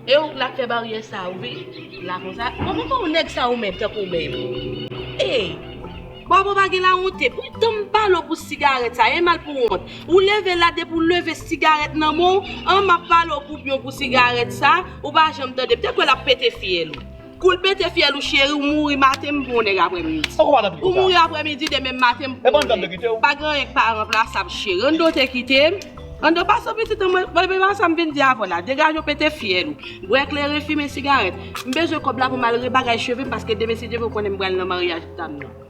E ou k lap fè baryè sa ou vin la konsa Mwen mwen pa ou nèg sa ou menm tankou ou menm Ey Bòbò pa gen lawonte Pou tan m pale ou pou sigarèt sa e mal pou wont Ou leve la depi ou leve sigarèt nan men w an m ap pale ou pou yon pou sigarèt sa ou pa janm tande m te kwè l ap pete fyèl ou Koul pete fyèl ou cheri ou mouri maten m bon nèg aprè midi. Poko madan pito sa. Ou mouri aprè midi demen maten m bon nèg. Epa Andoo te kite w. Pa gen anyen k pa ranplasab cheri. Andoo te kite m. Andoo pa sou pitit an mwen. Bebe pa sa m vin di avè w la. Degaje w pete fyèl ou. Bwè kleren fimen sigarèt. M bezwen kòb la pou m al rebagay cheve m paske demen si Dye vle w konnen m pral nan maryaj dam nan.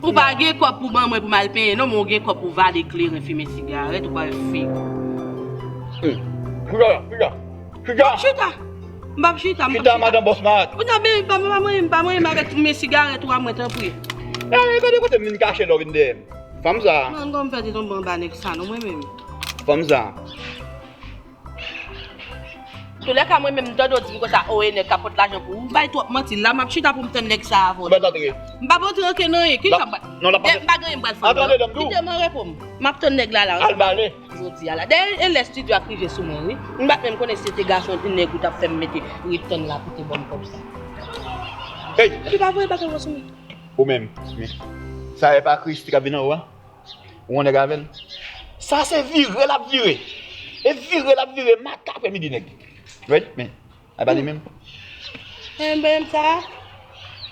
Ou pa gen kòb pou ban mwen pou mal penyen non men ou gen kòb pou vale kleren fimen sigarèt ou pral fou. Chita la, chita. Chita. Chita. M pap chita, m pap chita. Chita madan bòs malad. Ou ta byen pa manyen m, pa manyen m avèk fimen sigarèt ou a mwen tanpri. Eey gade kote m vin kache lò vin dèyè m. Fanm sa. Mwen gonm fè te tonbe anba nèg sa non mwen menm. Fanm sa. Toulèka mwen menm mtande w di m konsa oo e nèg kap pot lajan pou ou bay twòp manti la map chita poum tann nèg sa avòt. M pap antre anken nan anyen kisa map bay m pa gen anyen m pral fè ankò non kite m anrepo m map tann nèg la la ansanm avè l jodi a la dèyè e lè studio ap rive sou mwen wi m pat menm konnen si se te gason ou nèg ou tap fè m mete ret tann la pou te banm kòb sa epi pa voye bagay w yo sou mwen. Ou menm. Sa epa Christie kap vin anwo a? Ou wè nèg avèl. Sa se vire lap vire. E vire lap vire maten aprè midi nèg. Ready men. A pa li menm. Menm menm sa.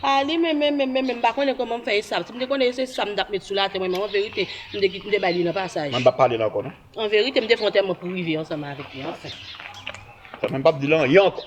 A li menm menm menm menm menm pa konnen kòman fè esam. Si m te konnen se sam tap met sou latè mwen menm an verite m te kite m te bay li nan pasaj. Mwen pa pale la ankò non. An verite m te fè yon tèman pou rive ansanm avèk li anfen. Sa menm pap di lan yon ankò.